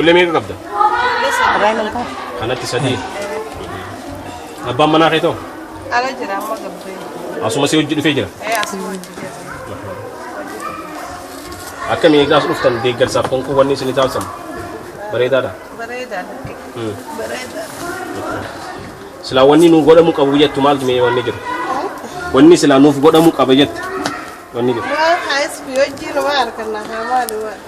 Ijoollee meeqa qabda? Irraa hin ta'a. Kanatti sadii. Abbaan manaa kee too? Ala jira amma gabbee. Asuma si hojii dhufee jira. Ee asuma hojii jira. Akkami eegaas dhuftan deeggarsaaf konkolaataa wanni isin taasisan bareedaadha. Bareedaadha. Hmm. Bareedaadha. Silaa wanni nuuf godhamu qabu jettu maaltu mee wanni jiru? Wanni silaa nuuf godhamu qaba jettu wanni jiru. Waan haayis fi hojii nama arganna haa maali waan.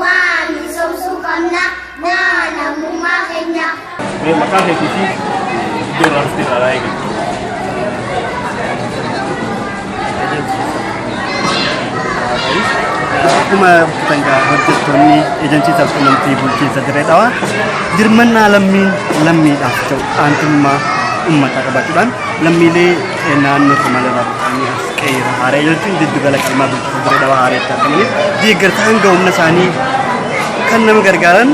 Maa misoomsuu qabna naa namummaa keenya. Mee maqaa keetii fi iddoo irraa dhufte irraa laayee galchu. Akkuma dangaa hojjettoonni eejansii sabqunnamtii bulchiinsa dirree dhawaa dirmannaa lammiin lammiidhaaf ta'u aantummaa uummataa qabaachuudhaan lammiilee naannoo Somaaliyaa irraa buqqa'anii as Qeeyyera Haaree jechuun jiddu gala qimmaa bulchiinsa Dirree Dhawaa Haareetti argamaniif deeggarsa hanga humna isaanii kan nama gargaaran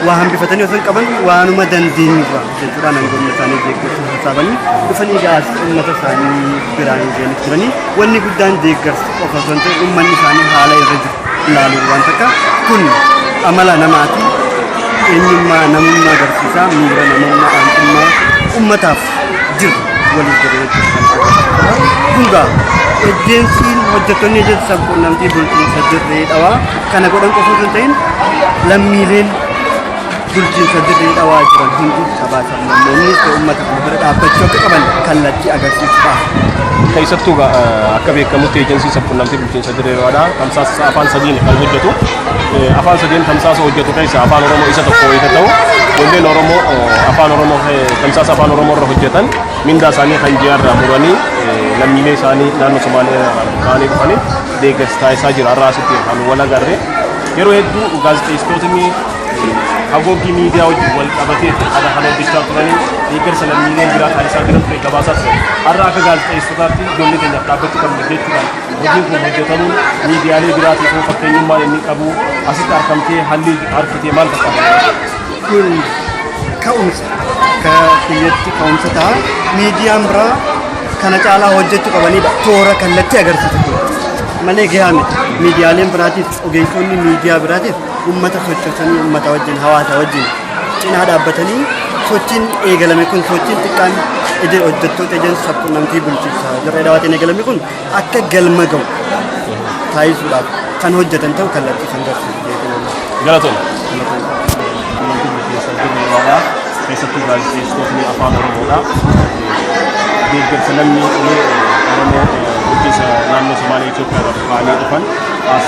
waa hambifatanii osoo hin qaban waanuma dandeenyurra jechuudhaan hanga humna isaanii deeggarsa sassaabanii dhufanii gaas uummata isaanii biraan ga'anii turanii wanni guddaan deeggarsa qofa osoo hin ta'in uummanni isaanii haala irra jiru ilaaluun waan takka kun amala namaati eenyummaa namummaa agarsiisa miira namummaa aantummaa uummataaf jiru waliif jedhe jechuudha kan agarsiisu. Kun gaa ejensiin hojjettoonni ejensi sabquunnamtii bulchiinsa dirree dhawaa kana godhan qofa osoo hin ta'in lammiileen bulchiinsa dirree dhawaa jiran hundi sabaa sablammoonni ta'e uummata kana bira dhaabbachuu akka qaban kallattii agarsiisudha. Keessattuu gaa, eh, akka beekamutti ejensiin sabquunnamtii Bulchiinsa Dirree Dhawaadhaa tamsaasa afaan sadiin kan hojjetu. Afaan sadiin tamsaasa hojjetu keessaa afaan Oromoo isa tokko wayita ta'u ijoolleen Oromoo afaan Oromoo tamsaasa afaan Oromoo irra hojjetan mindaa isaanii kan ji'a irraa muranii lammiilee isaanii naannoo Somaalee ta'anii dhufanii deeggarsa taasisaa jira. Har'a asitti kan wal agarre yeroo hedduu gaazexeessitootni haguuggii miidiyaa wajjin wal qabatee haala kan hojjechaa turanii deeggarsa lammiileen biraa taasisaa jiran ture gabaasaa ture. Har'a akka gaazexeessitootaatti ijoollee keenyaaf dhaabbachuu qabna jechuudhaan Hojiin kun hojjetamuun miidiyaalee biraatiif hoo fakkeenyummaan inni qabu asitti argamtee haalli argite maal fakkaata? Kun ka'umsa akka kiyyatti ka'umsa ta'a. Miidiyaan biraa kana caalaa hojjechuu qabanidha. Toora kallattii agarsiisu kun malee gahaa miti. Miidiyaaleen biraatiif ogeessonni miidiyaa biraatiif uummata sochoosanii uummata wajjin hawaasa wajjin cinaa dhaabbatanii sochiin eegalame kun sochiin xiqqaan ejee hojjettoota ejeensi sabqunnamtii bulchiinsa dirree dhawaatiin eegalame kun akka galma ga'u taasisuudhaaf kan hojjetan ta'u kallattii kan garsiisu beekamuudha. Galatooma. Qunnamtii bulchiinsa dirree dhawaa keessattuu gaazexeessitootni afaan Oromoodha. Deeggarsa namni ulee Oromoo bulchiinsa naannoo Somaalee Itoophiyaa irraa dhufanii dhufan as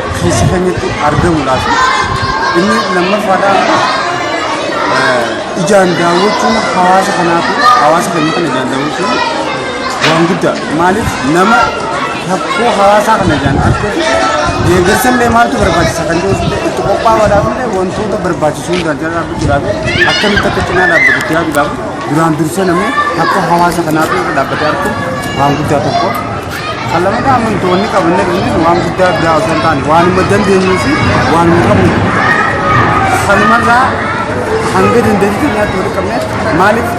keessa keenyatti argamudhaa fi inni lammaffaadhaa eh, ijaan daawwachuun hawaasa kanaaf hawaasa keenya kana ijaan daawwachuun waan guddaa maaliif nama rakkoo hawaasaa kana ijaan arge deeggarsa illee maaltu barbaachisa kan jedhu illee itti qophaa'uudhaaf illee wantoota barbaachisuu irraa jala dhaabbachuudhaaf akkamitti akka cinaa dhaabbatutti yaaduudhaaf duraan dursee namni rakkoo hawaasa kanaaf irra dhaabbatee argu waan guddaa tokko Kan lammataa amantoonni qabanne dhufnis waan guddaa biraa osoo hin taane waanuma dandeenyuu fi waanuma qabnu kanumarraa hanga dandeetti keenyaatti walitti qabne maaliif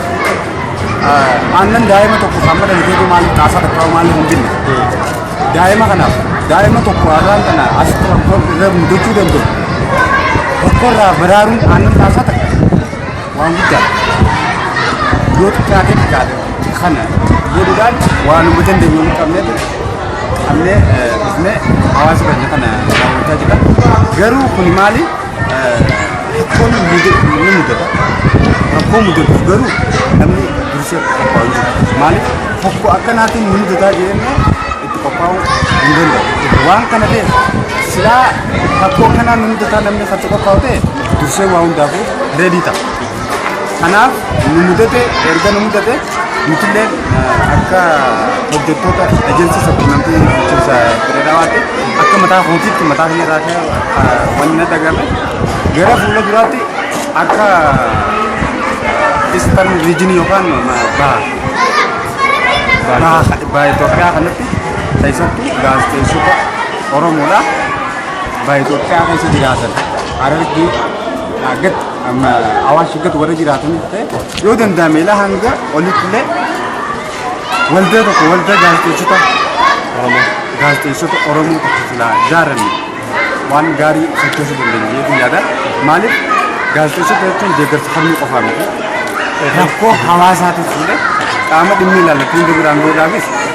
aannan daa'ima tokko kan madana ta'ee maaliif xaasaa dhaqqabaa maaliif hin binne daa'ima kanaaf daa'ima tokko har'aan kana asitti rakkoo irra mudachuu danda'u tokkorraa baraaruun aannan xaasaa takka waan guddaadha. Yoo xiqqaatee xiqqaate kana jedhuudhaan waanuma dandeenyu hin qabneetu qabnee eh, dhufnee hawaasa keenya kana raawwachaa jira. Garuu kuni maali? Eh, Rakkoon ni mudatu- ni mudata. Rakkoo mudatuuf garuu namni dursee qophaa'uu jira. Maaliif? Tokko akkanaatiin ni mudataa jennee itti qophaa'uu hin danda'u. Waan kana ta'eef silaa rakkoo kanaan ni mudataa namni kan qophaa'u ta'e dursee waa hundaafuu reedii ta'a. Kanaaf nu mudate erga nu mudate nutillee eh, akka hojjettoota ejensii sabqunnamtii bulchiinsa Dirreedawaatti akka mataa kootiitti mataa kiyya irraa ka'e eh, wanni na dhagahame gara fuula duraatti akka istan riijinii yookaan eh, baha baha baha Itoophiyaa kanatti keessattuu gaazexeessota Oromoodha. Ba Itoophiyaa keessa jiraatan Harargee gad amma Awaash gad warra jiraatan ta'e yoo danda'ame ilaa hanga olitti illee waldaa tokko waldaa gaazexeessota Oromoo gaazexeessota Oromoo tokko silaa ijaaranne waan gaarii sochoosuu dandeenya jedhee yaada. Maaliif gaazexeessota jechuun deeggarsa falmii qofaa miti. Rakkoo hawaasaatiif illee qaama dhimmi ilaallatu hunda biraan ga'uudhaafis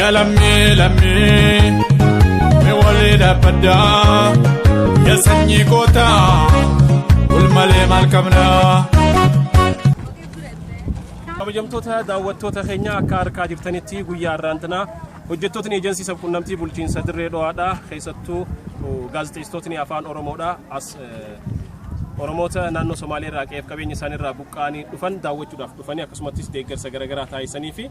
Ya lammii lammii mi walii dhaabbadaa ya sanyii kootaa wal malee maal qabnaa. kabajamtoota daawwattoota keenya akka argaa jirtanitti guyyaa har'aan tana hojjettootni eejensii sabquunnamtii bulchiinsa dirree dho'aadha keessattuu uh, gaazexeessitootni afaan oromoodha as eh, oromoota naannoo somaaliyaa irraa qe'eef qabeenya isaanii irraa buqqa'anii dhufan daawwachuudhaaf dhufanii akkasumattis deeggarsa garaagaraa taasisanii fi